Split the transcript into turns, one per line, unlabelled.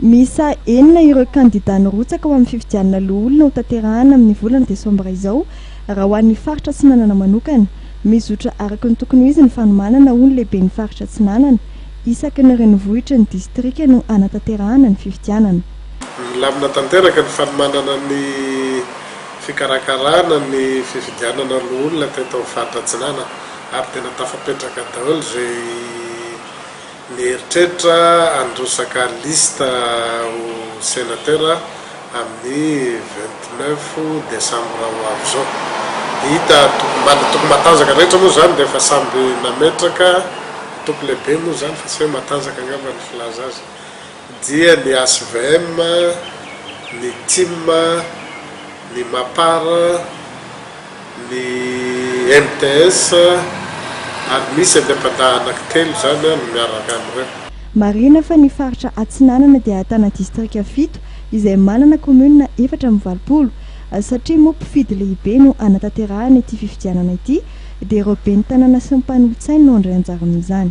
Miisa
enina ireo kandidà nirotsaka ho amin'ny fifidianana loholona ho tanterahana amin'ny volana desambra izao raha ho an'ny faritra Atsinanana manokana. Mizotra araka ny tokony ho izy ny fanomanana ho ny lehiben'ny faritra Atsinanana. Isaky ny renivohitry ny distrika no hanatanterahana ny fifidianana. Milamina
tanteraka ny fanomanana ny fikarakarana ny fifidianana loholona teto amin'ny faritra Atsinanana ary tena tafapetraka daholo izay Mieritreritra an'ireo sakalista ho Sénateur amin'ny vingt neuf décembre ho avy izao. Hita tokom-bala, toko matanjaka rehetra moa izany dia efa samby nametraka, toko lehibe moa izany fa tsy hoe matanjaka angamba ny filaza azy. dia ny HVM, ny Tim, ny Mapar, ny MTS, ary misy an'i Apadaha anankitelo izany no miaraka amin'ireo. Marihina fa ny
faritra Atsinanana dia ahitana distrika fito izay manana kaominina efatra amby valopolo. Satria moa mpifidy lehibe no hanatanterahana ity fifidianana ity dia ireo ben'ny tanàna sy ny mpanolotsainy no handray anjara amin'izany.